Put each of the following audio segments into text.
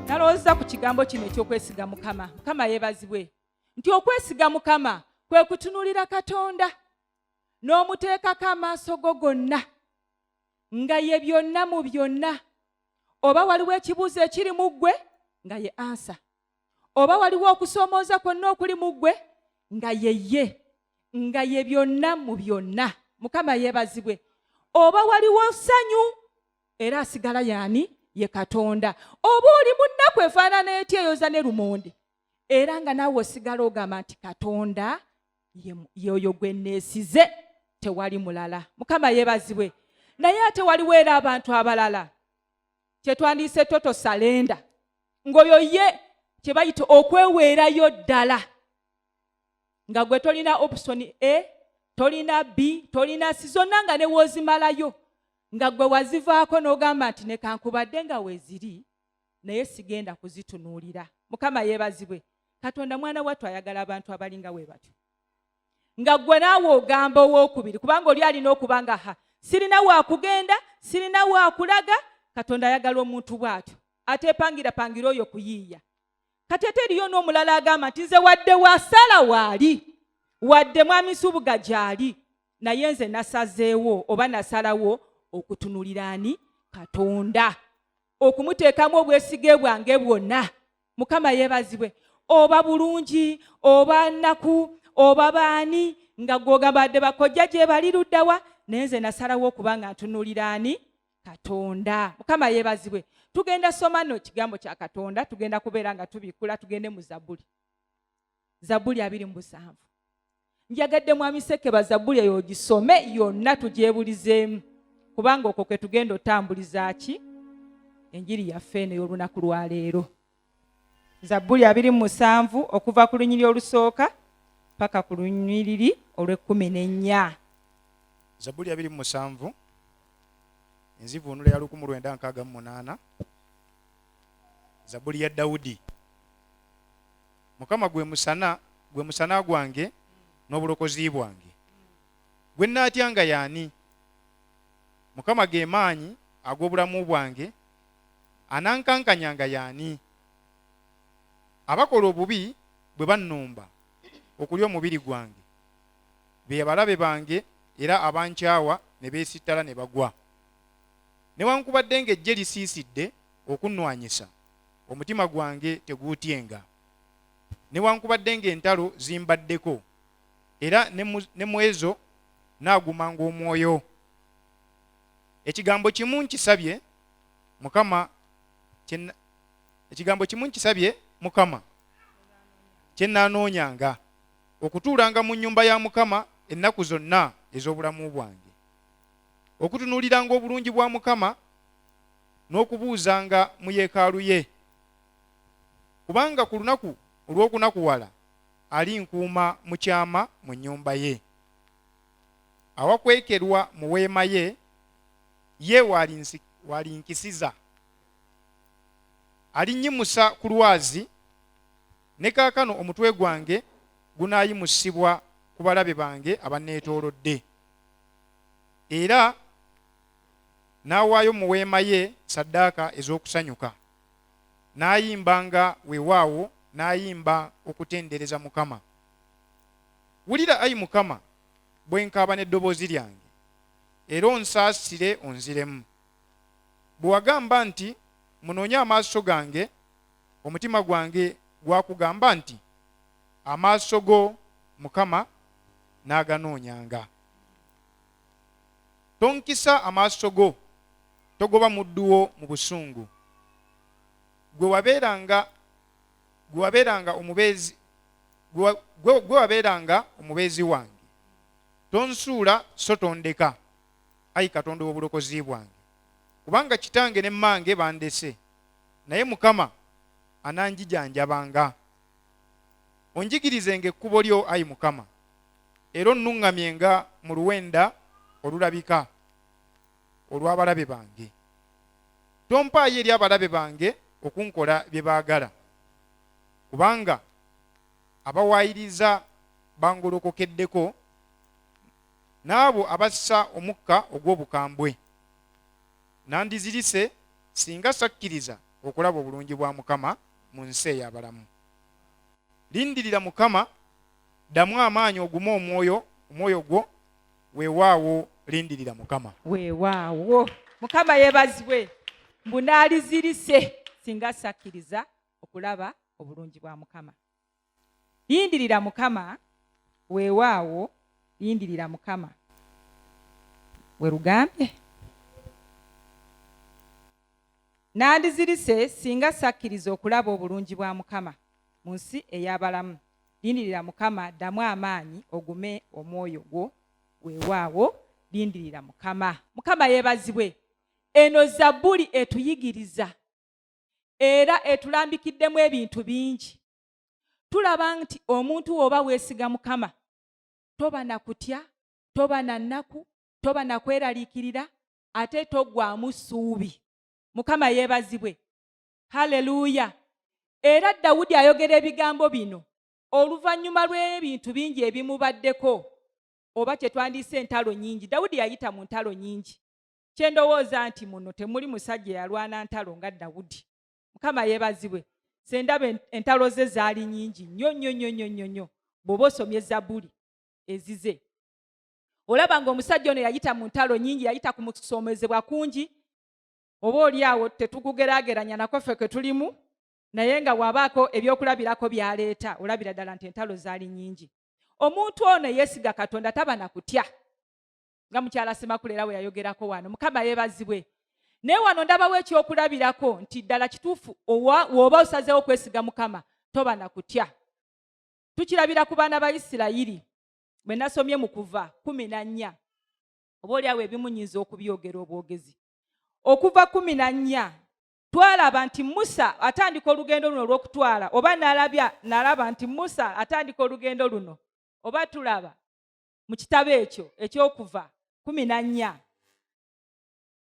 nalowooza ku kigambo kino ekyokwesiga mukama mukama yebazibwe nti okwesiga mukama kwe kutunulira katonda n'omuteekako amaaso go gonna nga ye byonna mu byonna oba waliwo ekibuuzo ekiri mu ggwe nga ye ansa oba waliwo okusoomooza kwonna okuli mu ggwe nga yeye nga ye byonna mu byonna mukama yeebazibwe oba waliwo ssanyu era asigala yaani ye katonda oba oli mu nnaku efaanana eti eyoza ne lumonde era nga naawe osigala ogamba nti katonda yoyo gwe neesize tewali mulala mukama yeebazibwe naye ate waliwo era abantu abalala kyetwandiyise toto salenda ngaoyo ye kyebayita okweweerayo ddala nga gwe tolina option a tolina b tolina si zonna nga newoozimalayo nga gwe wazivaako n'ogamba nti nekankubadde nga weziri naye sigenda kuzitunuulira mukama yeebazibwe katonda mwana wattu ayagala abantu abalinga we batyo nga ggwe naawe ogamba owokubiri kubanga oli alina okuba nga ha sirina wakugenda sirina wakulaga katonda ayagala omuntu bw'atyo ateepangira pangira oyo kuyiiya kati ate eriyo n'omulala agamba nti nze wadde wasala waali wadde mwami subuga gyali naye nze nasazeewo oba nasalawo okutunulira ani katonda okumuteekamu obwesige bwange bwonna mukama yeebazibwe oba bulungi oba nnaku oba baani nga gwogamba adde bakojja gye bali luddawa naye nze nasalawo okuba nga ntunulira ani katonda mukama yeebazibwe tugenda soma no ekigambo kya katonda tugenda kubeera nga tubikkula tugende mu zabbuli zabbuli abiri mu busanvu njagadde mwami sekeba zabbuli eyo ogisome yonna tugyebulizeemu kubanga okwo kwe tugenda otambuliza ki enjiri yaffe eno ey'olunaku lwaleero zabbuli abiri mu musanvu okuva ku lunyiri olusooka paka ku lunyiriri olw'ekkumi n'ennya zabbuli abiri mu musanvu enzivuunula ya lukumu lwenda nkaaga mu munaana zabbuli ya dawudi mukama gwe musana gwe musana gwange n'obulokozi bwange gwe nnaatyanga yaani mukama ge maanyi ag'obulamu bwange anankankanyanga yaani abakola obubi bwe bannumba okulya omubiri gwange be abalabe bange era abankyawa ne beesittala ne bagwa newankubadde ng'ejje lisiisidde okunnwanyisa omutima gwange teguutyenga newankubadde ng'entalo zimbaddeko era ne mu ezo naagumanga omwoyo ekigambo kimu nkisabye mukama ekigambo kimu nkisabye mukama kye naanoonyanga okutuulanga mu nnyumba ya mukama ennaku zonna ez'obulamu bwange okutunuuliranga obulungi bwa mukama n'okubuuzanga mu yeekaalu ye, kubanga ku lunaku olw'okunakuwala alinkuuma mu kyama mu nnyumba ye. Awakwekerwa mu weema ye, ye w'alinkisiza. Alinnyimusa ku lwazi, ne kaakano omutwe gwange gunaayimusibwa ku balabe bange abanneetoolodde. Era n'awaayo mu weema ye ssaddaaka ez'okusanyuka n'ayimbanga weewaawo n'ayimba okutendereza mukama wulira ayi mukama bwe nkaaba n'eddoboozi lyange era onsaasire onziremu bwe wagamba nti munoonye amaaso gange omutima gwange gwakugamba nti amaaso go mukama n'aganoonyanga Tonkisa amaaso go, togoba muddu wo mu busungu. Gwe wabeeranga gwe wabeeranga omubeezi gwe wabeeranga omubeezi wange. Tonsuula so tondeka, ayi Katonda ow'obulokozi bwange. Kubanga kitange ne mmange bandese, naye Mukama ananjijanjabanga. Onjigirizenga ekkubo lyo, ayi Mukama. era onnuŋŋamye nga mu luwenda olulabika olw'abalabe bange. Tompaayo eri abalabe bange okunkola bye baagala, kubanga abawaayiriza bangolokokeddeko, n'abo abassa omukka ogw'obukambwe. Nandizirise singa sakkiriza okulaba obulungi bwa Mukama mu nsi ey'abalamu. Lindirira Mukama ddamu amaanyi ogume omwoyo omwoyo gwo weewaawo lindirira mukama weewaawo mukama yebazibwe mbu naalizirise singa sakkiriza okulaba obulungi bwa mukama lindirira mukama weewaawo lindirira mukama werugambye nandizirise singa sakkiriza okulaba obulungi bwa mukama mu nsi ey'abalamu lindirira mukama ddamu amaanyi ogume omwoyo gwo weewaawo lindirira mukama mukama yeebazibwe eno zabbuli etuyigiriza era etulambikiddemu ebintu bingi tulaba nti omuntu wooba weesiga mukama toba na kutya toba na nnaku toba na kweraliikirira ate toggwamu ssuubi mukama yeebazibwe halleluuya era dawudi ayogera ebigambo bino oluvannyuma lw'ebintu bingi ebimubaddeko oba kye twandiise entalo nyingi dawudi yayita mu ntalo nyingi kye ndowooza nti muno temuli musajja yalwana ntalo nga dawudi mukama yeebazibwe sendaba entalo ze zaali nyingi nnyo nnyo nnyo nnyo nnyo nnyo bw'oba osomye ezabbuli ezize olaba ng'omusajja ono yayita mu ntalo nyingi yayita ku musoomezebwa kungi oba oli awo tetugugeraageranya nako ffe kwe tulimu naye nga wabaako ebyokulabirako byaleeta olabira ddala nti entalo zaali nyingi omuntu ono eyeesiga katonda taba na kutya nga mukyala semakuleera we yayogerako wano mukama yeebazibwe naye wano ndabawo ekyokulabirako nti ddala kituufu wooba osazeewo okwesiga mukama toba na kutya tukirabira ku baana ba isirayiri bwe nasomye mu kuva kumi na nnya oba olyawo ebimunyiza okubyogera obwogezi okuva kumi na nnya twalaba nti musa atandika olugendo luno olw'okutwala oba nalabya nalaba nti musa atandika olugendo luno oba tulaba mu kitabo ekyo ekyokuva kumi na nnya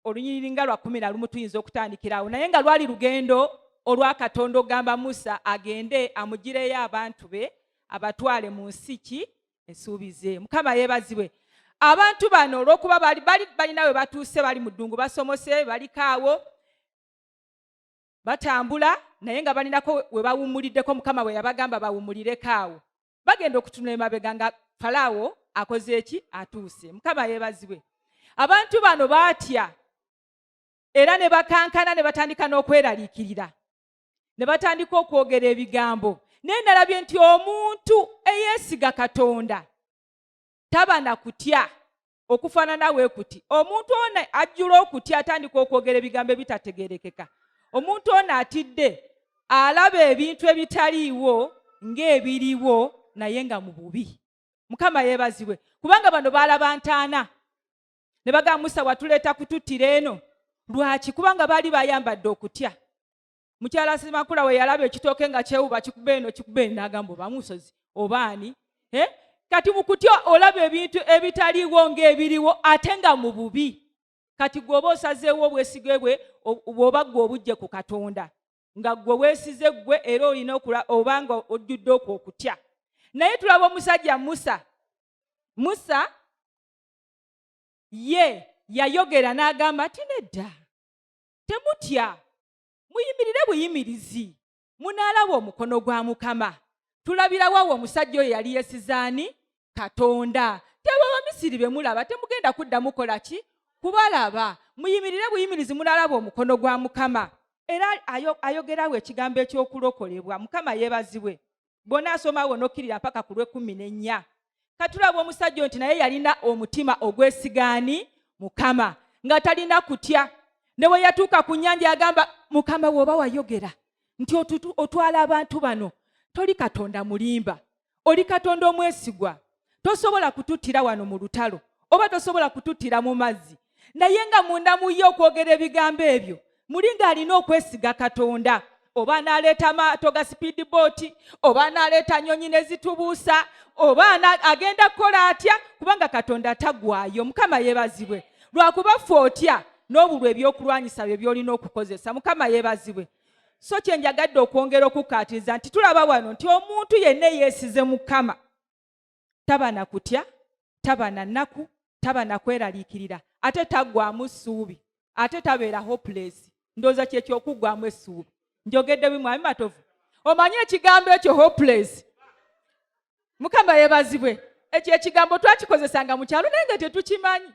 olunyiriri nga lwa kumi na lumu tuyinza okutandikirawo naye nga lwali lugendo olwa katonda okugamba musa agende amugireyo abantu be abatwale mu nsi ki esuubize mukama yebazibwe abantu bano olwokuba bali balina we batuuse bali mu ddungu basomose balikaawo batambula naye nga balinako we bawummuliddeko mukama bwe yabagamba bawummulireko awo bagenda okutunula emabega nga falaawo akoze eki atuuse mukama yebazibwe abantu bano baatya era ne bakankana ne batandika n'okweraliikirira ne batandika okwogera ebigambo naye nalabye nti omuntu eyeesiga katonda taba na kutya okufaanana we kuti omuntu ono ajjula okutya atandika okwogera ebigambo ebitategerekeka omuntu ono atidde alaba ebintu ebitaliiwo ng'ebiriwo naye nga mu bubi mukama yeebazibwe kubanga bano baalaba ntaana ne bagamba musa watuleeta kututtira eno lwaki kubanga baali bayambadde okutya mukyala simakula we yalaba ekitooke nga kyewuba kikuba eno kikuba eno n'agamba oba musozi oba ani eh? kati mu kutya olaba ebintu ebitaliiwo ng'ebiriwo ate nga mu bubi kati gweoba osazeewo obwesige bwe bwoba gwe obujje ku katonda nga gwe weesize ggwe era olina oba nga ojjudde okwo okutya naye tulaba omusajja musa musa ye yayogera n'agamba nti nedda temutya muyimirire buyimirizi munaalaba omukono gwa mukama tulabirawo awo omusajja oyo yali yesizaani katonda tebo abamisiri be mulaba temugenda kuddamu kola ki kubalaba muyimirire buyimirizi munaalaba omukono gwa mukama era ayogerawo ekigambo ekyokulokolebwa mukama yebazibwe bwonaasoma wo nokkirira mpaka ku lwekumi nennya katulaba omusajja nti naye yalina omutima ogwesigaani mukama nga talina kutya ne bwe yatuuka ku nnyanja yagamba mukama wooba wayogera nti otutwala abantu bano toli katonda mulimba oli katonda omwesigwa tosobola kututtira wano mu lutalo oba tosobola kututtira mu mazzi naye nga munda mu ye okwogera ebigambo ebyo muli ng'alina okwesiga katonda oba anaaleeta amaato ga sipiidi booti oba anaaleeta nyonyi ne zitubuusa oba agenda kukola atya kubanga katonda tagwayo mukama yeebazibwe lwakuba ffe otya n'obulwa ebyokulwanyisa bye byolina okukozesa mukama yeebazibwe so kye njagadde okwongera okukkaatiriza nti tulaba wano nti omuntu yenna eyeesize mukama taba na kutya taba na nnaku taba na kweraliikirira ate taggwamu ssuubi ate tabeera hopulesi ndowooza kyekyokuggwamu essuubi njogedde bimwami matovu omanyi ekigambo ekyo hopulesi mukama yebazibwe ekyo ekigambo twakikozesanga mu kyalo naye nga tetukimanyi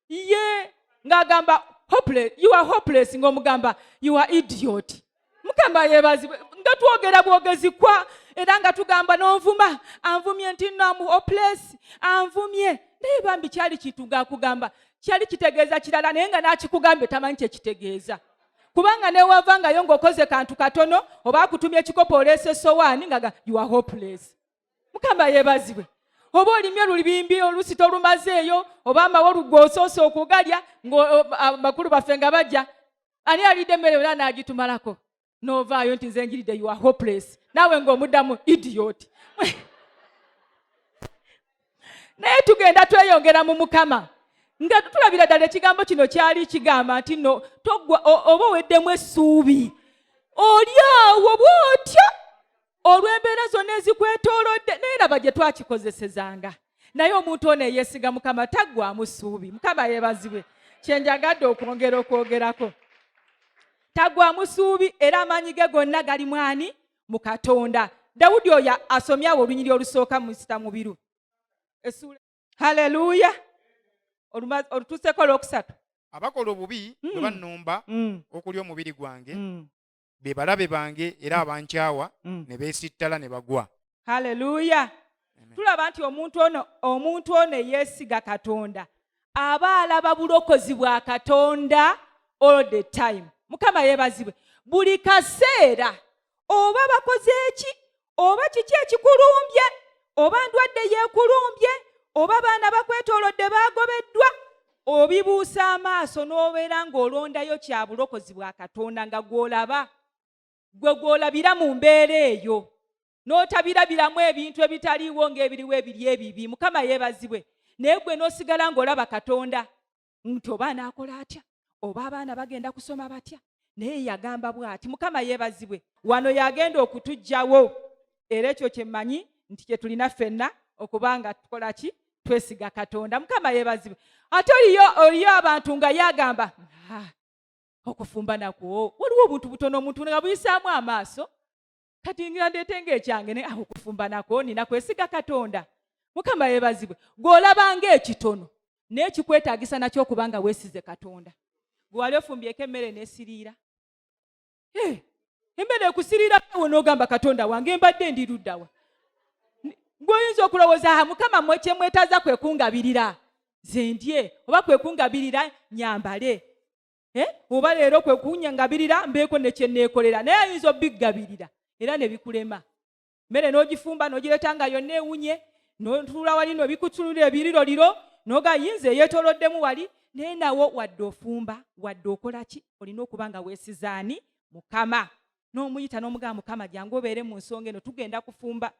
ye ng'agamba hopeless you are hopeless ng'omugamba you are idiot mukama yebazibwe nga twogera bwogezi kwa era nga tugamba n'onvuma anvumye nti no amu hopeless anvumye naye bambi kyali kituga akugamba kyali kitegeeza kirala naye nga n'akikugambye tamanyi kyekitegeeza kubanga newavangayo ng'okoze kantu katono oba akutumya ekikopo oleese sowaani nga you are hopeless mukama yebazibwe oba olimye olubimbi olusi tolumazeeyo oba amawolu gwosoose okugalya ngamakulu baffe nga bajja ani alidde emmere yona nagitumalako novaayo nti nze njiridde ua hopeless naawe ngaomuddamu idiot naye tugenda tweyongera mu mukama nga tulabira ddala ekigambo kino kyali kigamba nti no togwa oba oweddemu essuubi oli awo bwotyo olw'embeera zonna ezikwetoolodde naye laba gye twakikozesezanga naye omuntu ono eyeesiga mukama taggwamu ssuubi mukama yeebazibwe kyenjagadde okwongera okwogerako taggwamu ssuubi era amaanyi ge gonna gali mwani mu katonda dawudi oyo asomye awo olunyiri olusooka mu sita mubiru haleluya olutuuseko olwokusatu abakola obubi bwe mm. bannumba mm. okulya omubiri gwange mm. be balabe bange era mm. abankyawa mm. ne beesittala ne bagwa halleluya tulaba nti omuntu ono omuntu ono eyeesiga katonda aba alaba bulokozi bwa katonda all the time mukama yeebazibwe buli kaseera oba bakoze eki oba kiki ekikulumbye oba ndwadde yeekulumbye oba baana bakwetoolodde baagobeddwa obibuusa amaaso n'obeera ng'olondayo kya bulokozi bwa katonda nga gw'olaba gwe gw'olabira mu mbeera eyo n'otabirabiramu ebintu ebitaliiwo ng'ebiriwo ebiri ebibi mukama yeebazibwe naye gwe n'osigala ng'olaba katonda nti oba anaakola atya oba abaana bagenda kusoma batya naye yagamba bwati mukama yeebazibwe wano yagenda okutugjawo era ekyo kyemmanyi nti kyetulina ffenna okuba nga tukola ki twesiga katonda mukama yeebazibwe ate oliyo oliyo abantu nga yagamba ah, okufumba nakwo waliwo obuntu butono omuntu nga buyisaamu amaaso kati ngira ndeete ngaekyange naye awo kufumba nako nina kwesiga katonda mukama yebazibwe gweolaba ngaekitono naye kikwetagisa nakyo okuba nga wesize katonda gwewali ofumbyeko emmere nesiriira eh, emmere ekusiriira awo nogamba katonda wange mbadde ndiruddawa gweoyinza okulowooza ha mukama mwe kyemwetaza kwekungabirira zendye oba kwekungabirira nyambale eh, oba leero kwe kunyangabirira mbeeko ne kye neekolera naye ayinza obiggabirira era ne bikulema mmere n'ogifumba n'ogireeta nga yonna ewunye notuula wali nobikutunulira ebiriro liro noga yinza eyetoloddemu wali naye nawo wadde ofumba wadde okola ki olina okuba nga weesizaani mukama n'omuyita n'omugamba mukama jangu obeere mu nsonga eno tugenda kufumba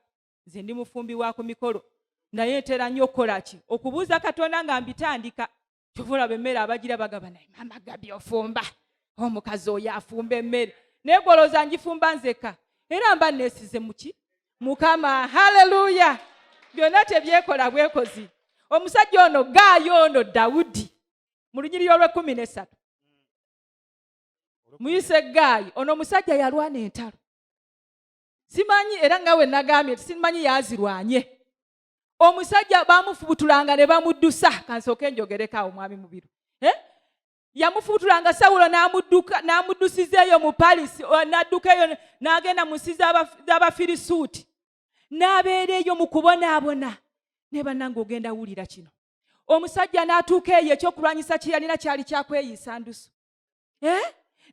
nze ndi mufumbi wa ku mikolo naye ntera nnyo okukola ki okubuuza katonda nga mbitandika kyova olaba emmere abagira bagaba naye mama gabi ofumba omukazi oyo afumba emmere naye gwolowooza ngifumba nzeka era mba nesize muki mukama haleluya byonna tebyekola bwekozi omusajja ono gaayo ono dawudi mu lunyiriri olwekumi nesatu muyise gaayi ono omusajja yalwana entalo simanyi era nga we nagambye nti simanyi yazirwanye omusajja bamufubutulanga ne bamuddusa kansooka enjogereko awo mwami mubiru eh? yamufubutulanga sawulo n'amuddusiza eyo mu palisi n'adduka eyo n'agenda mu nsi z'abafirisuuti n'abeera eyo mu kubonaabona naye bannange ogenda wulira kino omusajja n'atuuka eyo ekyokulwanyisa kye yalina kyali kyakweyisa ndusu eh?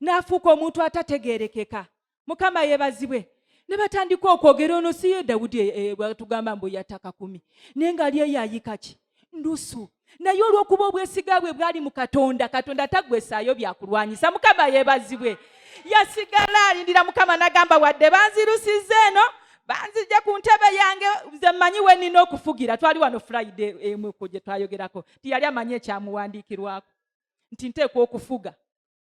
n'afuuka omuntu atategeerekeka mukama yebazibwe ne batandika okwogera ono si ye dawudi eh, eh, bwatugamba mbu yataka kumi naye ngaali eyo ayikaki ndusu naye olwokuba obwesiga bwe bwali mu katonda katonda tagwesaayo byakulwanyisa mukama yebazibwe yasigala alindira mukama nagamba wadde banzirusiza eno banzijja ku ntebe yange nze mmanyi we nina okufugira twali wano friday emuko gye twayogerako tiyali amanyi ekyamuwandiikirwako nti nteekwa okufuga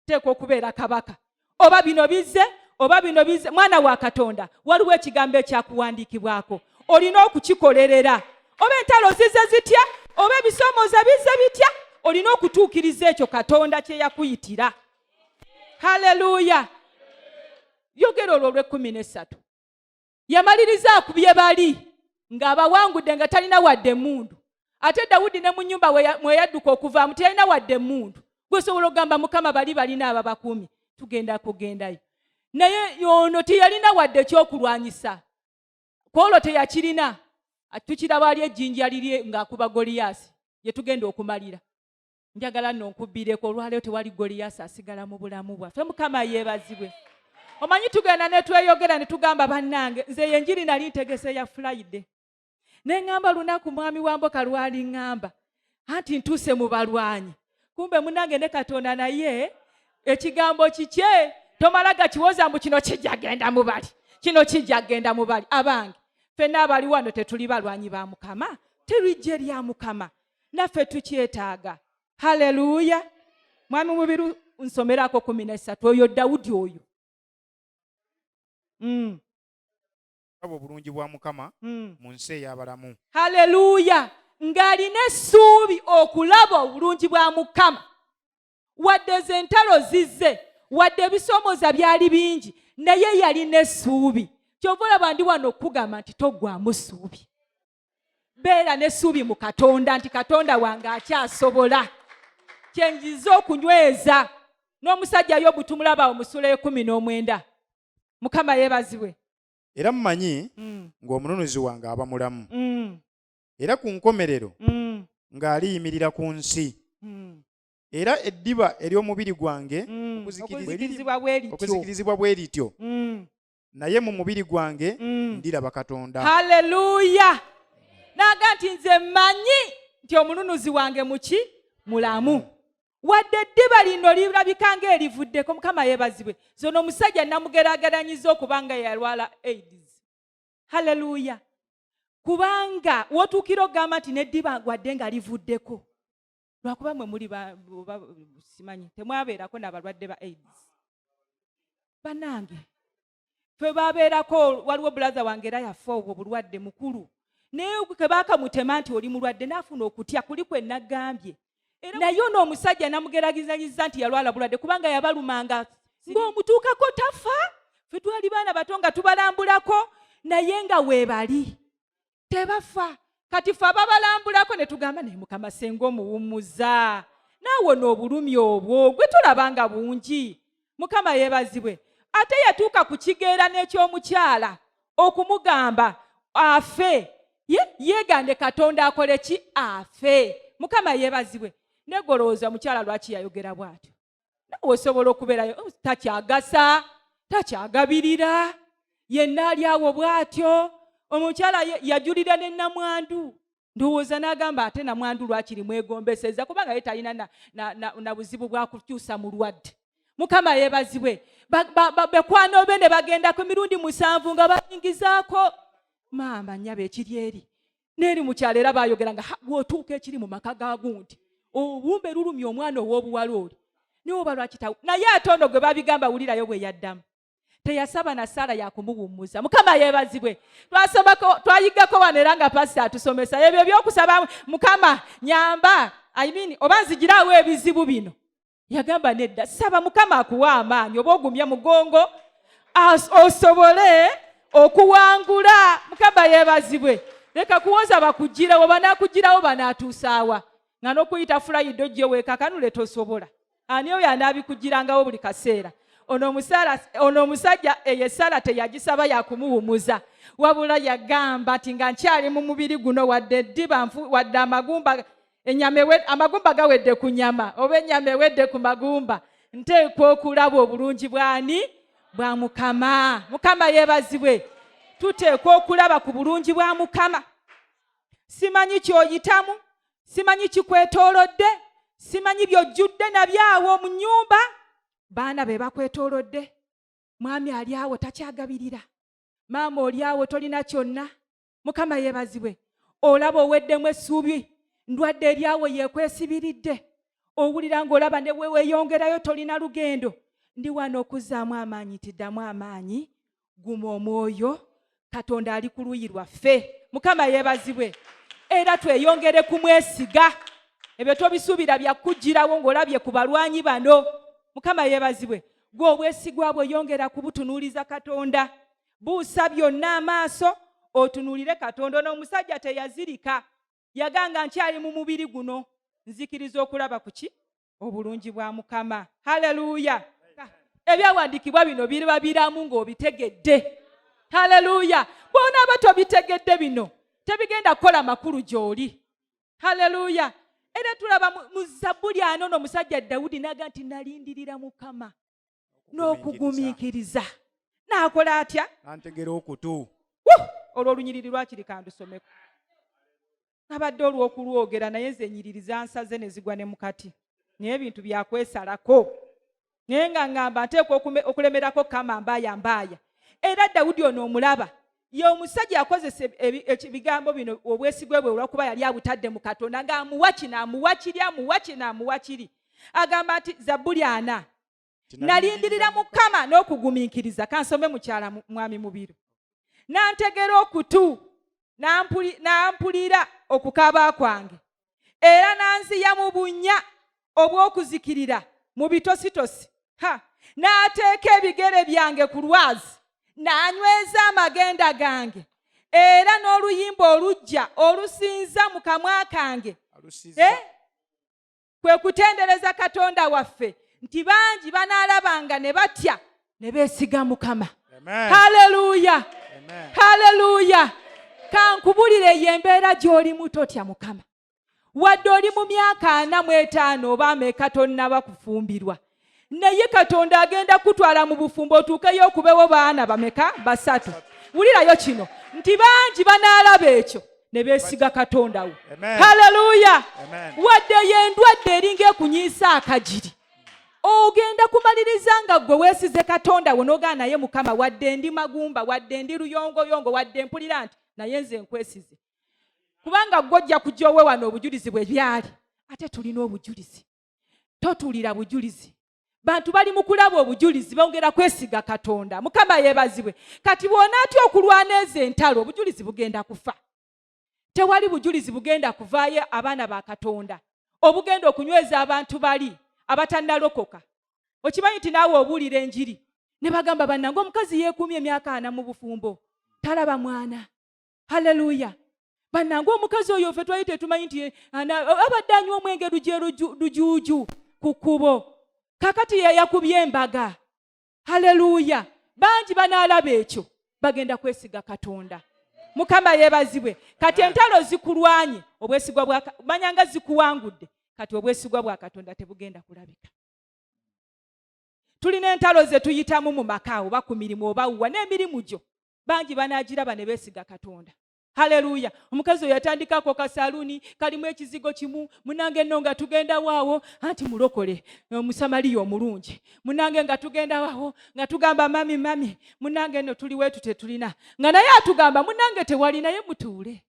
nteekwa okubeera kabaka oba bino bize oba bino bize mwana wa katonda waliwo ekigambo ekyakuwandiikibwako olina okukikolerera oba entalo zize zitya oba ebisomooza bize bitya olina okutuukiriza ekyo katonda kye yakuyitira haleluya yogera olwo olw'ekkumi n'essatu yamaliriza akubye bali ng'abawangudde nga talina wadde emundu ate dawudi ne mu nyumba mweyadduka okuvaamu teyalina wadde emundu gwesobola okugamba mukama bali balina ababakuumi tugenda kugendayo naye ono teyalina wadde ekyokulwanyisa kwolwo teyakirina tukiraba ali ejjinja liri ng'akuba goliyaasi gyetugenda okumalira njagala no nkubbireko olwaleero tewali goliyaasi asigala mu bulamu bwaffe mukama yeebazibwe omanyi tugenda netweyogera netugamba bannange nze yenjiri nali ntegese ya fulaide ne ŋŋamba lunaku mwami wa mboka lwali ŋŋamba anti ntuuse mu balwanyi kumbe munange ne katonda naye ekigambo kikye tomala gakiwoza mbu kino kijagenda mubali kino kijagenda mubali abange fenna abali wano tetuli balwanyi ba mukama terijje lya mukama naffe tukyetaaga haleluya mwami mubiru nsomerako kumi nesatu oyo dawudi oyo mm. abo obulungi bwa mukama mm. mu nsi ey'abalamu haleluya ng'alina essuubi okulaba obulungi bwa mukama wadde ze ntalo zizze wadde ebisomooza byali bingi naye yalina essuubi kyova olaba ndi wano okukugamba nti toggwamu ssuubi beera n'essuubi mu katonda nti katonda wange akyasobola kyenjiza okunyweza n'omusajja yo butumulaba omusula ekumi n'omwenda mukama yeebazibwe era mumanyi mm. ng'omununuzi wange aba mulamu mm. era ku nkomerero mm. ng'aliyimirira ku nsi era eddiba ery'omubiri gwange okuzikirizibwa bwe lityo naye mu mubiri gwange mm. ndiraba katonda haleluya naga nti nze mmanyi nti omununuzi wange muki mulamu mm. wadde eddiba lino lirabika nga erivuddeko mukama yebazibwe zona omusajja namugerageranyiza okuba nga yalwala aids haleluya kubanga wotuukira okugamba nti neddiba gwadde nga livuddeko lwakuba mwe muli simanyi temwabeerako nabalwadde ba aids banange fe babeerako waliwo bulaza wange era yafa obwo bulwadde mukulu naye kebakamutema nti oli mulwadde naafuna okutya kuli kwe nagambye naye ono omusajja namugeragizanyiza nti yalwala bulwadde kubanga yabalumanga ng'omutuukako tafa fe twali baana bato nga tubalambulako naye nga weebali tebafa kati fe ababalambulako ne tugamba naye mukama senga omuwummuza naawe n'obulumi obwo gwe tulaba nga bungi mukama yeebazibwe ate yatuuka ku kigeera n'ekyomukyala okumugamba afe yeegande katonda akole ki afe mukama yeebazibwe negolowooza mukyala lwaki yayogera bw'atyo nawe osobola okubeerayo oh, takyagasa takyagabirira yenna ali awo bw'atyo omukyala yajulira ne namwandu ndowooza n'agamba ate namwandu lwakiri mwegombeseza kubanga ye talina na, na, na, na buzibu bwa kukyusa mulwadde mukama yebazibwe bekwano be ne bagenda ku mirundi musanvu nga bayingizaako maama nyabo ekiri eri neeri mu kyalo era baayogera nga bw'otuuka ekiri mu maka ga gundi obumbe lulumya omwana ow'obuwala oli niwe oba lwakitawo naye ate ono gwe babigamba wulirayo bwe yaddamu teyasaba na saala yakumuwummuza mukama yeebazibwe twasomako twayiggako wano era nga pasita atusomesa ebyo ebyokusaba mukama nyamba I mean, oba nzigiraawo ebizibu bino yagamba nedda saba mukama akuwa amaanyi oba ogumya mugongo osobole okuwangula mukama yebazibwe leka kuwoza bakugirawo banakugirawo banatuusaawa nga nokuyita fulayido gyeweekakanule tosobola ani oyo anaabikugirangawo buli kaseera ono omusajja eyo esaala teyagisaba yakumuwumuza wabula yagamba nti nga nkyali mu mubiri guno wadde eddiba wadde amagumba enyama ewe, amagumba gawedde ku nyama oba enyama ewedde ku magumba nteekwa okulaba obulungi bwani bwa mukama mukama yebazibwe tuteekwa okulaba ku bulungi bwa mukama simanyi kyoyitamu simanyi kikwetoolodde simanyi byojjudde nabyawo mu nyumba baana be bakwetoolodde mwami ali awo takyagabirira maama oli awo tolina kyonna mukama yebazibwe olaba oweddemu essuubi ndwadde eryawo yekwesibiridde owulira ngaolaba neweweyongerayo tolina lugendo ndi wano okuzaamu amaanyi tiddamu amaanyi guma omwoyo katonda ali ku luyi lwaffe mukama yebazibwe era tweyongere kumwesiga ebyo tobisuubira byakujjirawo ngaolabye ku balwanyi bano mukama yebazibwe gwe obwesigwa bwe yongera kubutunuuliza katonda buusa byonna amaaso otunuulire katonda ono omusajja teyazirika yaganga nkyali mu mubiri guno nzikiriza okulaba kuki obulungi bwa mukama haleluya ebyawandiikibwa bino biriba biramu ng'obitegedde haleluya bwonaaba tobitegedde bino tebigenda kukola makulu gy'oli haleluya era tulaba mu zabbuli ano no omusajja dawudi naga nti nalindirira mukama n'okugumiikiriza n'akola atya antegera okutu olwo olunyiriri lwakiri kandusomeko abadde olw'okulwogera naye nze enyiriri zansaze ne zigwa ne mukati naye ebintu byakwesalako naye nga ngamba nteekwa okulemerako kama mbaaya mbaaya era dawudi ono omulaba ye omusajja yakozesa ebigambo bino obwesigwe bwe olwakuba yali abutadde mu katonda ng'amuwa kino amuwa kiri amuwa kino amuwa kiri agamba nti zabbuli ana nalindirira mukama n'okugumiikiriza kansome mukyala mwami mubiru nantegera okutu nampulira okukaaba kwange era nanziya mu bunnya obw'okuzikirira mu bitositosi ha n'ateeka ebigere byange ku lwazi n'anyweza amagenda gange era n'oluyimba olujja olusinza mu kamwa kange kwe kutendereza katonda waffe nti bangi banaalabanga ne batya ne beesiga mukama haleluya haleluya kankubulire ye embeera gy'olimu totya mukama wadde oli mu myaka ana mu etaano oba ameeka tonnaba kufumbirwa naye katonda agenda kutwala mu bufumbo otuukeyo okubewo baana bameka basatu wulirayo kino nti bangi banaalaba ekyo ne beesiga katonda wo haleluya wadde yendwadde eringa ekunyiisa akagiri ogenda kumaliriza nga gwe weesize katonda wo nogaa naye mukama wadde ndi magumba wadde ndi luyongoyongo wadde mpulira nti naye nze nkwesize kubanga gwe ojja kujja owe wano obujulizi bwe byali ate tulina obujulizi totulira bujulizi bantu bali mu kulaba obujulizi bongera kwesiga katonda mukama yebazibwe kati bwonaatya okulwana ezo entalo obujulizi bugenda kufa tewali bujulizi bugenda kuvaayo abaana ba katonda obugenda okunyweza abantu bali abatannalokoka okimanyi nti naawe obuulira enjiri ne bagamba bannange omukazi yeekuumya emyaka ana mu bufumbo talaba mwana haleluya banange omukazi oyo fe twali tetumanyi nti eh, abadde anywa omwenge lujerujuuju ku kkubo kakati yeyakubye embaga haleluya bangi banaalaba ekyo bagenda kwesiga katonda mukama yebazibwe kati entalo zikulwanye obwesigwa bwamanya nga zikuwangudde kati obwesigwa bwa katonda tebugenda kulabika tulina entalo zetuyitamu mu maka oba ku mirimu oba wuwa n'emirimu gyo bangi banaagiraba ne beesiga katonda haleluya omukazi oyo yatandikako kasaluuni kalimu ekizigo kimu munange no nga tugendawaawo anti mulokole omusamaliya omulungi munange nga tugendawawo nga tugamba mami mami munange no tuli wetu tetulina nga naye atugamba munange tewali naye mutuule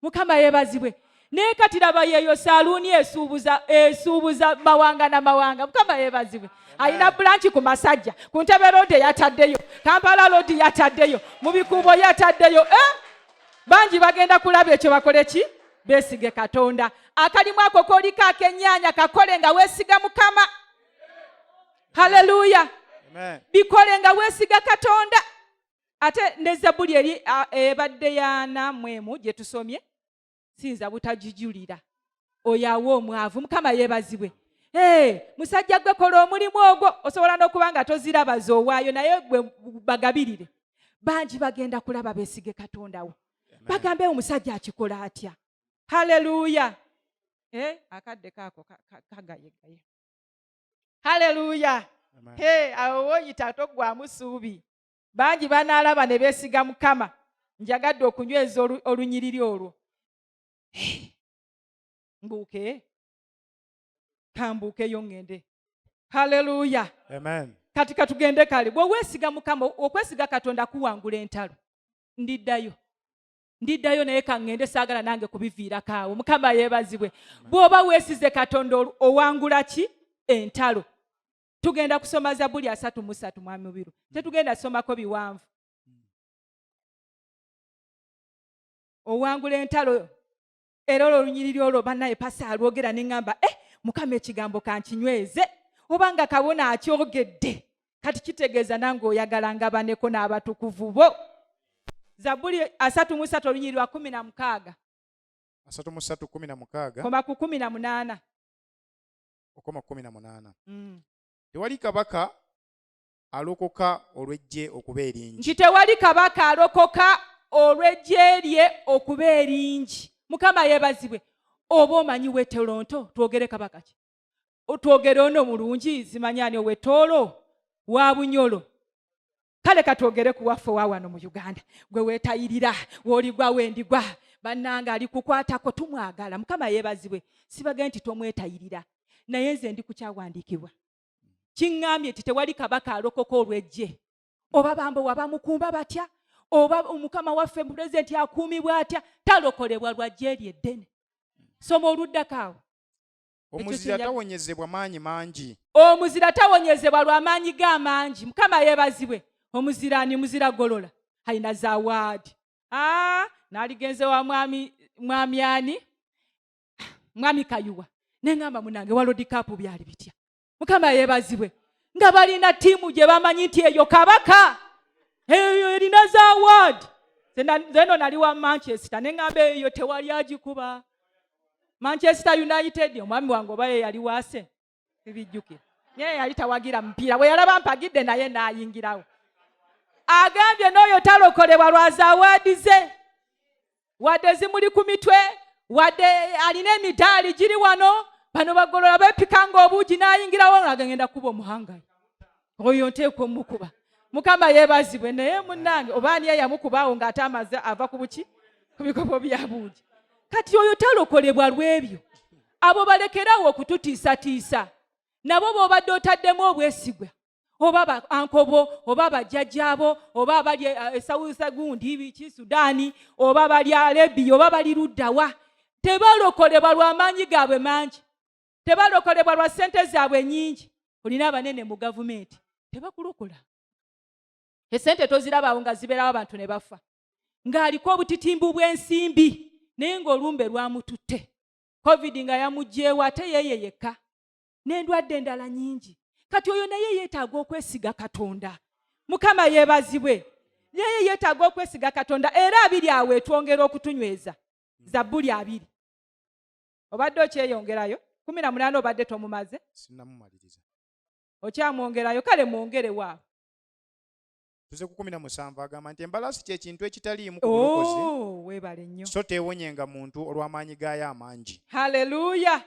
mukama yebazibwe naye kati laba yeeyo saluuni esuubuza esuubuza mawanga na mawanga mukama yebazibwe alina bulanki ku masajja ku ntebe loodi yataddeyo kampala loodi yataddeyo mu bikuubo yataddeyo eh? bangi bagenda kulaba ekyo bakole ki besige katonda akalimu ako koliko akenyanya kakole nga wesiga mukama haleluya bikole nga wesiga katonda ate ne zabbuli eri ebadde yana mwemu gye tusomye siyinza butagijulira oyo awa omwavu mukama yebazibwe Hey, musajja gwe kola omulimu ogwo osobola n'okuba nga toziraba zowaayo naye gwe bagabirire bangi bagenda kulaba besige katonda wo bagambe omusajja akikola atya haleluya eh, akadde kaako kagayegaye haleluya hey, awo woyita toggwamu suubi bangi banaalaba ne beesiga mukama njagadde okunyweza olunyiriri olwo mbuuke kambuukeyo ŋŋende halleluya kati katugende kale bwe weesiga mukama okwesiga katonda kuwangula entalo ndiddayo ndiddayo naye kaŋŋende saagala nange kubiviirako awo mukama yeebazibwe bw'oba weesize katonda owangula ki entalo tugenda kusoma zabuli asatu musatu mwami mubiru mm. tetugenda somako biwanvu mm. owangula entalo era olwo olunyiriri olwo banaye pasa alwogera neŋamba e eh, mukama ekigambo kankinyweze obanga kabona akyogedde kati kitegeeza nange oyagala ngabaneko n'abatukuvu bo zabuli asatu musatu olunyiriri lwa kumi na mukaaga asatu musatu kumi na mukaaga koma ku kumi na munaana okoma kumi na munaana mm. tewali kabaka alokoka olwejje okuba eringi nti tewali kabaka alokoka olwejje lye okuba eringi mukama yebazibwe oba omanyi wetolonto twogere kabaka ki twogere ono mulungi zimanyani owetoolo wa bunyolo kale katwogere ku waffe wa wano mu uganda gwe wetayirira woligwa wendigwa bannange ali kukwatako tumwagala mukama yebazibwe sibage nti tomwetayirira naye nze ndi kukyawandiikibwa kiŋŋambye nti tewali kabaka alokoka olwejje oba bambo wabamukumba batya oba omukama waffe pulezidenti akuumibwa atya talokolebwa lwajja eri eddene soma oluddako awo omuzira tawonyezebwa maanyi mangi omuzira tawonyezebwa lwa maanyi ge amangi mukama yeebazibwe omuzira ni muzira golola alina zawaadi ah, naligenze wa mwami mwami ani mwami kayuwa nengamba munange walodikapu byali bitya mukama yebazibwe nga balina tiimu gye bamanyi nti eyo kabaka eyo erina za ward zeno nali wa manchester neŋamba eyo tewali agikuba manchester united omwami wange oba yeyali wase ebijjukira naye yali tawagira mupiira bwe yalaba mpagidde naye naayingirawo agambye n'oyo talokolebwa lwa zawaadi ze wadde zimuli ku mitwe wadde alina emidaali giri wano bano bagolola bepika nga obuugi n'ayingirawo agenda kuba omuhangayi oyo nteekwa omukuba mukama yeebazibwe naye munnange oba aniya yamukubaawo ng'ate amaze ava ku buki ku bikopo bya buugi kati oyo talokolebwa lw'ebyo abo balekerawo okututiisatiisa nabo b'obadde otaddemu obwesigwa oba ba ankobo oba bajjajjaabo oba abali eh, eh, esawusa gundi biki sudaani oba bali alebiya oba bali luddawa tebalokolebwa lwamaanyi gaabwe mangi tebalokolebwa lwa ssente zaabwe nyingi olina abanene mu gavumenti tebakulokola esente tozirabaawo nga zibeerawo abantu ne bafa ng'aliko obutitimbu bw'ensimbi naye ng'olumbe lwamututte covid nga yamugyewo ate yeeye yekka n'endwadde endala nyingi kati oyo naye yeetaaga okwesiga katonda mukama yeebazibwe naye yeetaaga okwesiga katonda era abiri awo etwongera okutunyweza zabbuli abiri obadde okyeyongerayo kumi na munaana obadde tomumaze okyamwongerayo kale mwongerewaabo tuze ku kumi na musanvu agamba nti embalaasi kyekintu ekitaliimu kubulokozi oh, webale nnyo so teewonyenga muntu olw'amaanyi gaayo amangi haleluya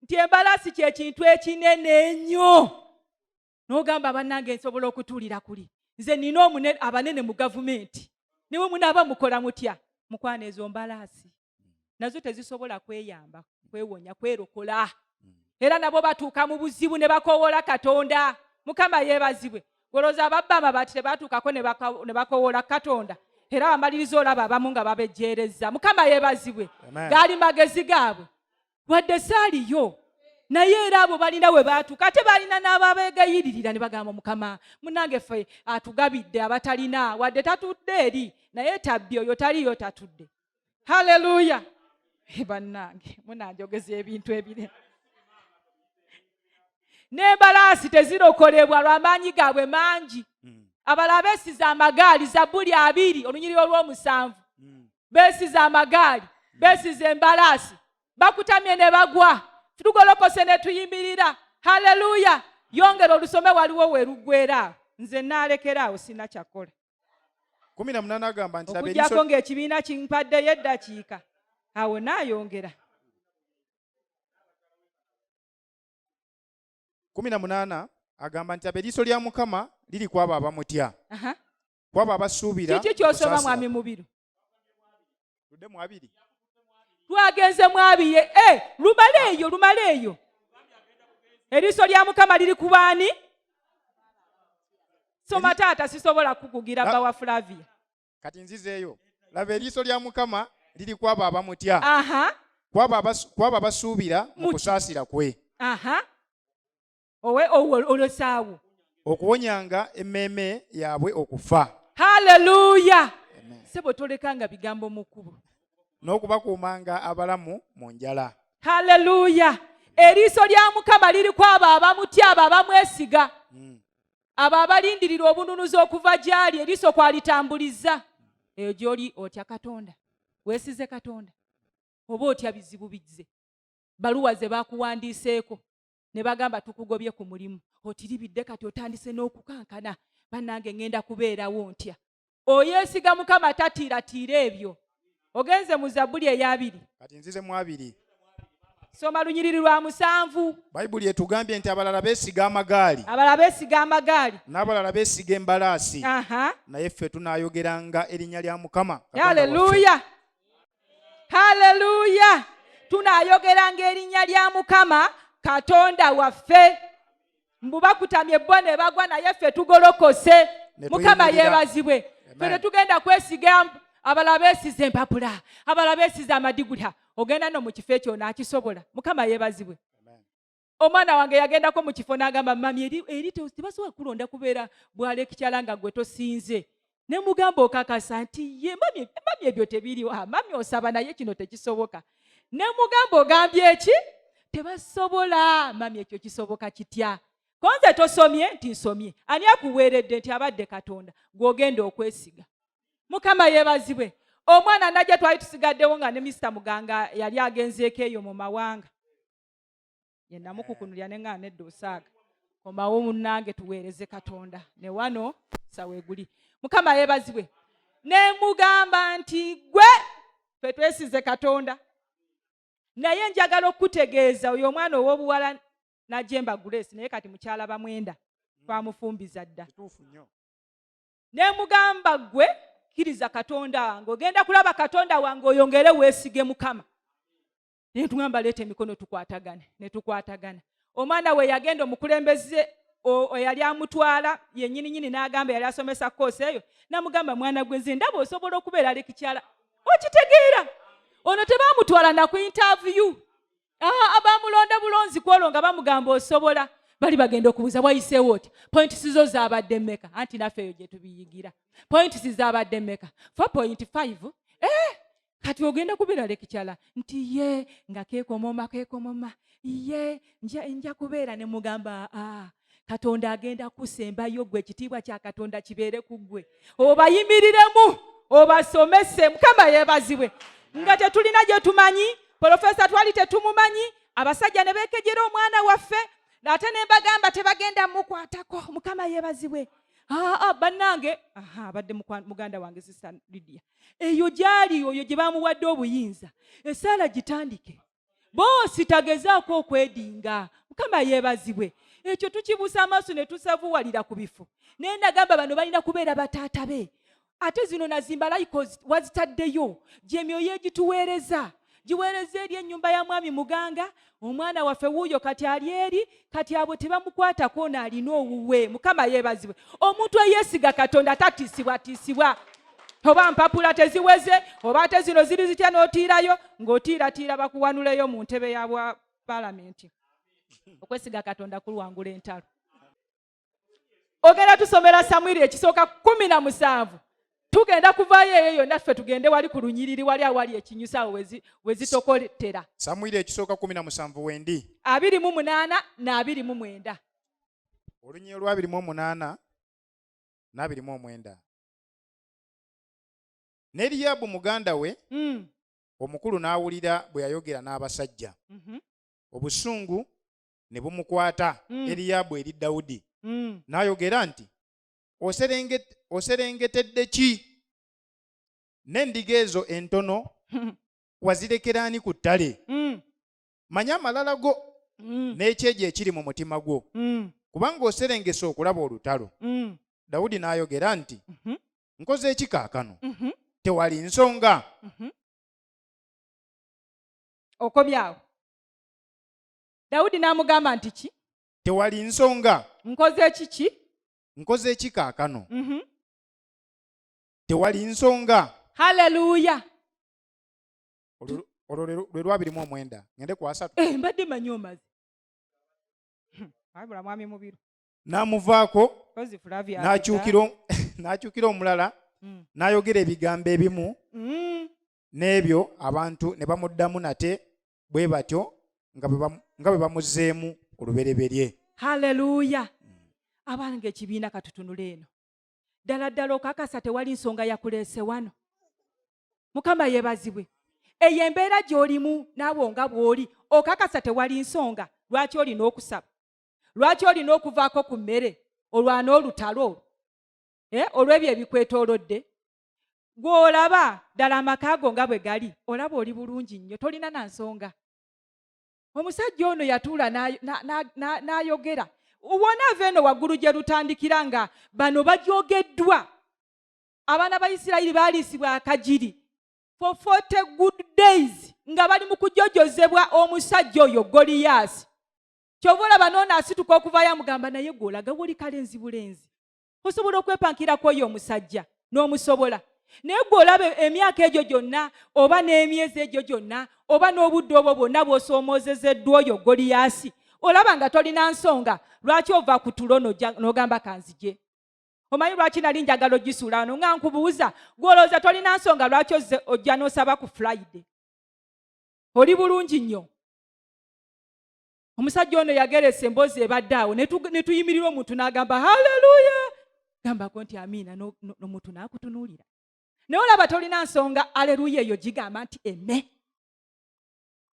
nti embalaasi kyekintu ekinene ennyo n'ogamba bannange nsobola okutuulira kuli nze nina abanene mu gavumenti niwe munaaba mukola mutya mukwana ezo mbalaasi mm. nazo tezisobola kweyamba kwewonya kwerokola mm. era nabo batuuka mu buzibu ne bakowoola katonda mukama yeebazibwe goloza ababba amabaati tebatuukako ne bakowoola katonda era wamaliriza olaba abamu nga babejjeerezza mukama yeebazibwe gaali magezi gaabwe wadde saaliyo naye era abo balina we baatuuka ate balina n'ababeegayiririra ne bagamba mukama munange ffe atugabidde abatalina wadde tatudde eri naye tabbi oyo taliyo tatudde haleluya eh, bannange munanjogeza ebintu ebire n'embalaasi tezirokolebwa lw'amaanyi gaabwe mangi hmm. abalala beesiza amagaali zabbuli abiri olunyiriro lw'omusanvu hmm. beesiza amagaali hmm. beesiza embalaasi bakutamye ne bagwa tugolokose ne tuyimirira haleluya yongera olusome waliwo we luggwera nze naalekeraawo sina kyakola kumi na munaana agamba nti okujjako ng'ekibiina kimpaddeyo eddakiika awo naayongera kumi na munaana agamba nti ab'eriiso lya mukama liri kwabo abamutya kwabo abasuubira kiki kyosoma mwami mubiru tudde mu abiri twagenze mu abiye e eh, lumale eyo lumale eyo eriiso lya mukama liri ku baani soma taata sisobola kukugira bba wa flavia kati nzizeeyo laba eriiso lya mukama liri kwabo abamutya kwabo abasuubira mu kusaasira kwe owe olosaawo okuwonyanga emmeeme yaabwe okufa haleluya sebo tolekanga bigambo mu kkubo n'okubakuumanga abalamu mu njala haleluya eriiso lya mukama liri ku abo abamutya abo abamwesiga hmm. abo abalindirira obununuzi okuva gy'ali eriiso kwalitambuliza eyo gy'oli otya katonda weesize katonda oba otya bizibu bizze baluwa ze bakuwandiiseeko ne bagamba tukugobye ku mulimu otiribidde kati otandise n'okukankana bannange ŋŋenda kubeerawo ntya oyeesiga mukama tatiiratiira ebyo ogenze mu zabbuli eyabiri kati nzize mu abiri soma lunyiriri lwa musanvu bayibuli etugambye nti abalala besiga amagaali abalala besiga amagaali n'abalala besiga embalaasi naye ffe tunayogeranga erinnya lya mukama aleluya haleluya tunayogeranga erinnya lya mukama katonda waffe mbu bakutamye bo ne bagwa naye ffe tugolokose mukama yeebazibwe fe tetugenda kwesiga abala beesiza empapula abala beesiza amadigula ogenda no mu kifo ekyo naakisobola mukama yeebazibwe omwana wange yagendako mu kifo n'agamba mami eri, eri tebasobola kulonda kubeera bwalekikyala nga gwe tosinze ne mugamba okakasa nti ye mami ebyo tebiriwo ah, mami osaba naye kino tekisoboka ne mugamba ogambye eki tebasobola mami ekyo kisoboka kitya konze tosomye nti nsomye ani akuweeredde nti abadde katonda gwogenda okwesiga mukama yebazibwe omwana najja twali tusigaddewo nga ne misita muganga yali agenzeeko eyo mu mawanga yenamukukunulira eh. nengana nedda osaaga komawo munange tuweereze katonda ne wano saweguli mukama yebazibwe nemugamba nti gwe fe twesize katonda naye njagala okukutegeeza oyo omwana ow'obuwala najemba grace naye kati mukyala bamwenda mm. twamufumbiza dda nemugamba gwe kiriza katonda wange ogenda kulaba katonda wange oyongere weesige mukama netugamba leeta emikono tukwatagane netukwatagana omwana we yagenda omukulembeze eyali amutwala yenyini nyini n'agamba yali asomesa koosi eyo namugamba mwana gwe nze ndaba osobola okubeera ali kikyala okitegeera ono tebamutwala na ku intaviyu ah, abamulonda bulonzi kwolwo nga bamugamba osobola bali bagenda okubuuza wayiseewo otya pointi sizo zabadde meka anti naffe eyo gyetubiyigira pointi sizabadde meka fo pointi five eh, kati ogenda kubeera lekikyala nti ye nga kekomoma kekomoma ye nja kubeera ne mugamba aa katonda agenda kusembayo gwe ekitiibwa kya katonda kibeere ku gwe obayimiriremu obasomese mukama yebazibwe nga tetulina gye tumanyi polofesa twali tetumumanyi abasajja ne beekejera omwana waffe ate ne mbagamba tebagenda mukwatako mukama yebazibwe aa bannange abadde muganda wange sista lidia eyo gyali oyo gye bamuwadde obuyinza esaala gitandike boosi tagezaako okwedinga mukama yeebazibwe ekyo tukibuusa amaaso ne tusavuwalira ku bifo naye nagamba bano balina kubeera bataata be ate zino nazimba layiko wazitaddeyo gyemyoyo egituweereza giweereza eri ennyumba ya mwami muganga omwana waffe wuuyo kati ali eri kati abo tebamukwatako ono alina owuwe mukama yeebazibwe omuntu eyeesiga katonda tatiisibwatiisibwa oba mpapula teziweze oba ate zino ziri zitya n'otiirayo ng'otiiratiira bakuwanuleyo mu ntebe ya bwa palamenti okwesiga katonda kulwangula entalo ogenda tusomera samwiri ekisooka kumi na musanvu tugenda kuvayo eyo yonna ffe tugende wali ku lunyiriri wali awali ekinyusa awo wezitokotera samwiri ekisooka kumi na musanvu wendi abiri mu munaana na abiri mu mwenda olunyiriri olwabiri mu omunaana n'abiri mu omwenda ne liyabu muganda we mm. omukulu n'awulira bwe yayogera n'abasajja mm -hmm. obusungu ne bumukwata mm. Eriyaabu eri Dawudi mm. n'ayogera nti oserengetedde ki n'endiga ezo entono wazirekera ani ku ttale mm. manya amalala go mm. n'ekyejo ekiri mu mutima gwo mm. kubanga oserengese okulaba olutalo mm. Dawudi n'ayogera nti mm -hmm. nkoze eki kaakano mm -hmm. tewali nsonga mm -hmm. okobyawo dawudi n'amugamba nti ki tewali nsonga nkoze kiki nkoze ki kaakano mhm. tewali nsonga haleluya olwo lwe lwabiri mu omwenda ngende ku asatu eh, mbadde manyi omazi hmm, abula mwami mubiru n'amuvaako n'akyukira omulala hmm. n'ayogera ebigambo ebimu hmm. n'ebyo abantu ne bamuddamu nate bwe batyo nga bwe bamuzzeemu olubereberye haleluya abange ekibiina katutunula eno ddala ddala okakasa tewali nsonga yakuleese wano mukama yebazibwe eyo embeera gy'olimu naawe nga bw'oli okakasa tewali nsonga lwaki olina okusaba lwaki olina okuvaako ku mmere olwana olutalo olwo eh, olw'ebyo ebikwetoolodde gw'olaba ddala amaka ago nga bwe gali olaba oli bulungi nnyo tolina na nsonga omusajja ono yatuula n'ayogera wona ava eno waggulu gye lutandikira nga bano bajogeddwa abaana ba isirayiri baaliisibwa akagiri for 40 good days nga bali mu kujojozebwa omusajja oyo goliyaasi kyova olaba noona asituka okuvaayo amugamba naye gweolagawo oli kale nzibulenzi osobola okwepankira ku oyo omusajja n'omusobola naye gwe olaba emyaka egyo gyonna oba n'emyezi egyo gyonna oba n'obudde obwo bwonna bw'osoomozezeddwa oyo goliyasi olaba nga tolina nsonga lwaki ova ku tulo n'ogamba kanzije omanyi lwaki nali njagala ogisuula wano nga nkubuuza gwolowooza tolina nsonga lwaki ozze ojja n'osaba ku friday oli bulungi nnyo omusajja ono yageresa emboozi ebadde awo ne tuyimirira omuntu n'agamba haleluya gambako nti amiina nomuntu n'akutunuulira naye olaba tolina nsonga aleluya eyo gigamba nti eme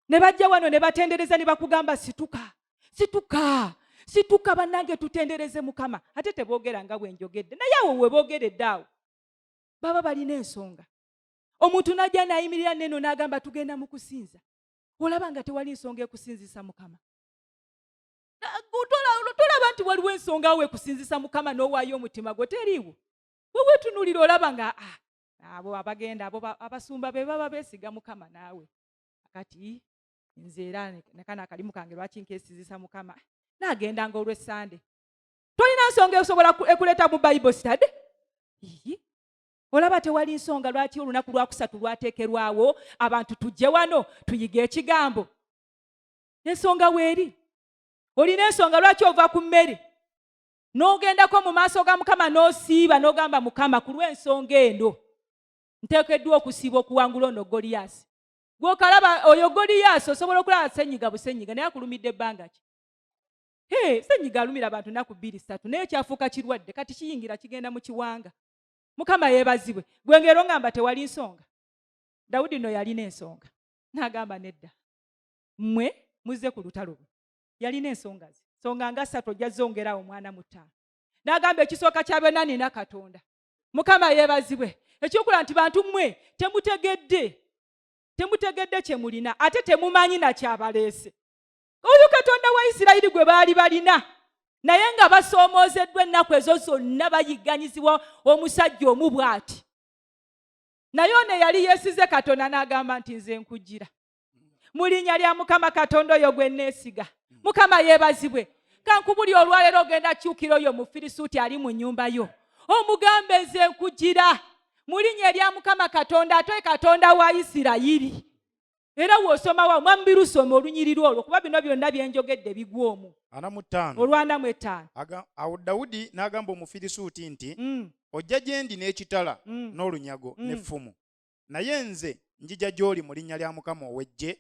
ne bajja wano ne batendereza ne bakugamba situka situka situka bannange tutendereze mukama ate teboogera nga bwe njogedde naye awo we boogeredde awo baba balina ensonga omuntu n'ajja n'ayimirira neno n'agamba tugenda mu kusinza olaba nga tewali nsonga ekusinzisa mukama tolaba nti waliwo ensonga awo ekusinzisa mukama n'owaayo omutima gwo teriiwo wewetunulira olaba nga ah, abo abagenda abo abasumba be baba besiga mukama naawe kati nze era nakana akalimu kange lwaki nkesizisa mukama nagenda nga olwesande tolina nsonga esobola ekuleeta mu bible study olaba tewali nsonga lwaki olunaku lwakusatu lwateekerwawo abantu tujje wano tuyige ekigambo ensonga weeri olina ensonga lwaki ova ku mmere n'ogendako mu maaso ga mukama n'osiiba n'ogamba mukama ku lw'ensonga eno nteekeddwa okusiiba okuwangula ono goliyaasi gwokalaba oyo goliyaasi osobola okulaba senyiga busenyiga naye akulumidde ebbanga ki senyiga alumira abantu naku bbiri satu naye kyafuuka kirwadde kati kiyingira kigenda mu kiwanga mukama yebazibwe gwe ngero ngamba tewali nsonga dawudi no yalina ensonga nagamba nedda mmwe muzze ku lutalo lwe yalina ensonga ze songa nga satu ojja zongerawo omwana mutaano nagamba ekisooka kya byonna nina katonda mukama yebazibwe ekyokula nti bantu mmwe temutegedde temutegedde kyemulina ate temumanyi nakyabaleese oyo katonda wa isirayiri gwe baali balina naye nga basoomoozeddwa ennaku ezo zonna bayigganyizibwa omusajja omu bw'ati naye ono eyali yeesize katonda n'agamba nti nze nkugira mu linnya lya mukama katonda oyo gwe nneesiga mukama yeebazibwe kankubuli olwaleero ogenda kyukira oyo mufirisuuti ali mu nnyumba yo omugambe nze nkugira mu linnya erya mukama katonda ate katonda wa isirayiri era wosomawa mwami birusoma olunyiriri olwo kuba bino byonna byenjogedde bigwa omu olwanamu ettaano awo dawudi n'agamba omufirisuuti nti mm. ojja gye ndi n'ekitala mm. n'olunyago mm. n'effumu naye nze njija gy'oli mu linnya lya mukama ow'eggye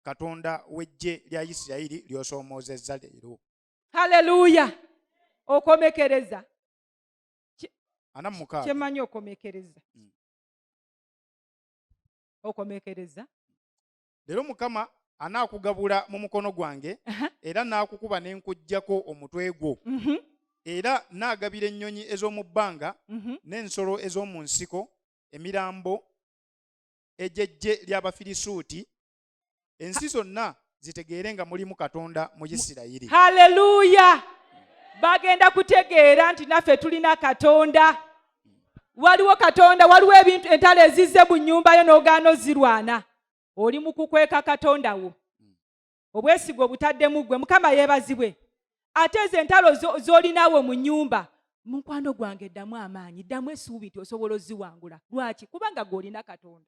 katonda w'eggye lya isirayiri ly'osoomoozezza leero haleluya okomekereza kyemanyi okomekereza okomekereza leero mukama anaakugabula mu mukono gwange era naakukuba ne nkuggyako omutwe gwo mhm. era naagabira ennyonyi ez'omu bbanga mhm. n'ensolo ez'omu nsiko emirambo egyejje ly'abafirisuuti ensi zonna zitegeere nga mulimu katonda mu isirayiri haleluya bagenda kutegeera nti naffe tulina katonda waliwo katonda waliwo ebintu entalo ezizze mu nnyumba yo n'ogaana ozirwana oli mu kukweka katonda wo obwesiga obutaddemu ggwe mukama yeebazibwe ate ezo entalo z'olinaawo mu nnyumba mukwano gwange ddamu amaanyi ddamu esuubi nti osobola oziwangula lwaki kubanga gweolina katonda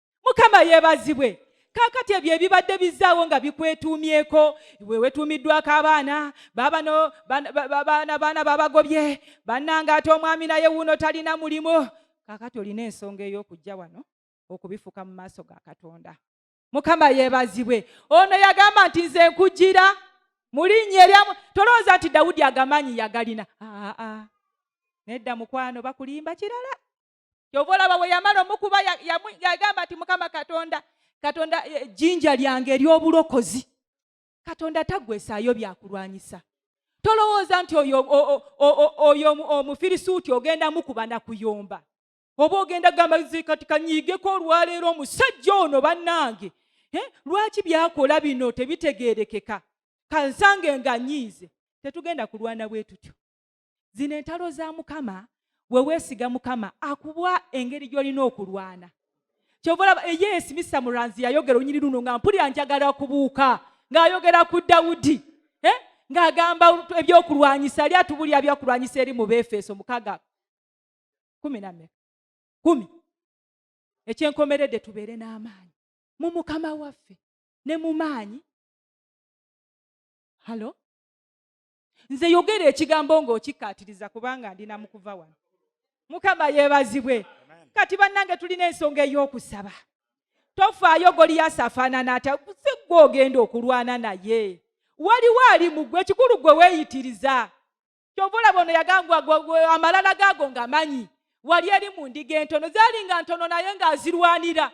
mukama yebazibwe kakati ebyo ebibadde bizaawo nga bikwetuumyeko we wetuumiddwako abaana babano baana baana babagobye bannanga ate omwami naye wuuno talina mulimu kakati olina ensonga ey'okujja wano okubifuka mu maaso ga katonda mukama yebazibwe ono yagamba nti nze nkujira mulinnya eryamu tolowooza nti dawudi agamanyi yagalina aa nedda mukwano bakulimba kirala kyova olaba bwe yamala omukuba yagamba nti mukama katonda katonda e, jjinja lyange ery'obulokozi katonda tagwesaayo byakulwanyisa tolowooza nti oyo omufirisuuti ogenda mukuba nakuyomba oba ogenda gamba kati kanyiigeko olwaleero omusajja ono bannange lwaki byakola bino tebitegeerekeka kansange nga nyiize tetugenda kulwana bwe tutyo zino entalo za mukama we weesiga mukama akuwa engeri gy'olina okulwana kyova olaba eye eh, esimisa muranzi yayogera onyini luno nga mpulira njagala kubuuka ng'ayogera ku dawudi eh? ng'agamba ebyokulwanyisa ali atubulira byakulwanyisa eri mu beefeso mukaga kumi name kumi ekyenkomeredde tubeere n'amaanyi mu mukama waffe ne mu maanyi halo nze yogera ekigambo ng'okikkaatiriza kubanga ndi na mukuva wano mukama yeebazibwe kati bannange tulina ensonga ey'okusaba tofaayo goliyasi afaanana atya si gwe ogenda okulwana naye waliwo ali mu gwe ekikulu gwe weeyitiriza kyova olaba ono yagambwa amalala gaago nga manyi wali eri mu ndiga entono zaali nga ntono naye ng'azirwanira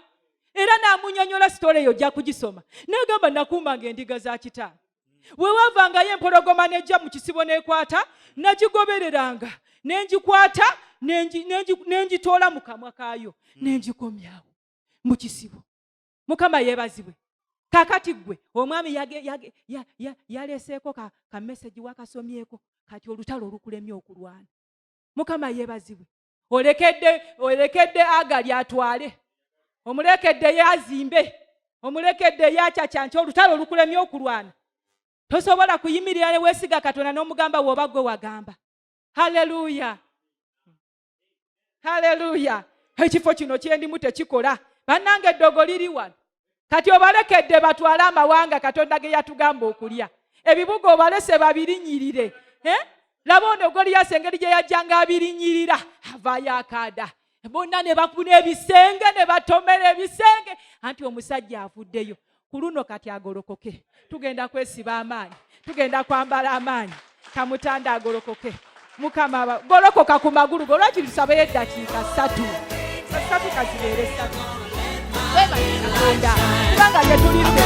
era n'amunyonyola sitoola eyo ojja kugisoma n'agamba nakuumanga endiga za kitaano bwe waavangayo empologoma n'ejja mu kisibo n'ekwata nagigobereranga ne ngikwata ne ngitoola mu kamwa kaayo hmm. ne ngikomyawo mu kisibo mukama yeebazibwe kakati gwe omwami yaleeseeko kamesegi wakasomyeko kati olutalo olukulemye okulwana mukama yeebazibwe olekedde olekedde agali atwale omulekedde ye azimbe omulekedde ye acacanca olutalo olukulemye okulwana tosobola kuyimirira ne weesiga katonda n'omugamba wooba gwe wagamba haleluya haleluya ekifo kino kyendimu tekikola bannanga eddogo liri wano kati obalekedde batwale amawanga katonda ge yatugamba okulya ebibuga obalese babirinyirire eh? laba ono goliyasi engeri gye yajjanga abirinyirira avaayo akaada bonna ne bakuna ebisenge ne batomera ebisenge anti omusajja avuddeyo ku luno kati agolokoke tugenda kwesiba amaanyi tugenda kwambala amaanyi kamutanda agolokoke mukama golokoka ku magulu go lwaki tusabeyo eddakiika ssatu satu kazibeere satu kubanga tetulidde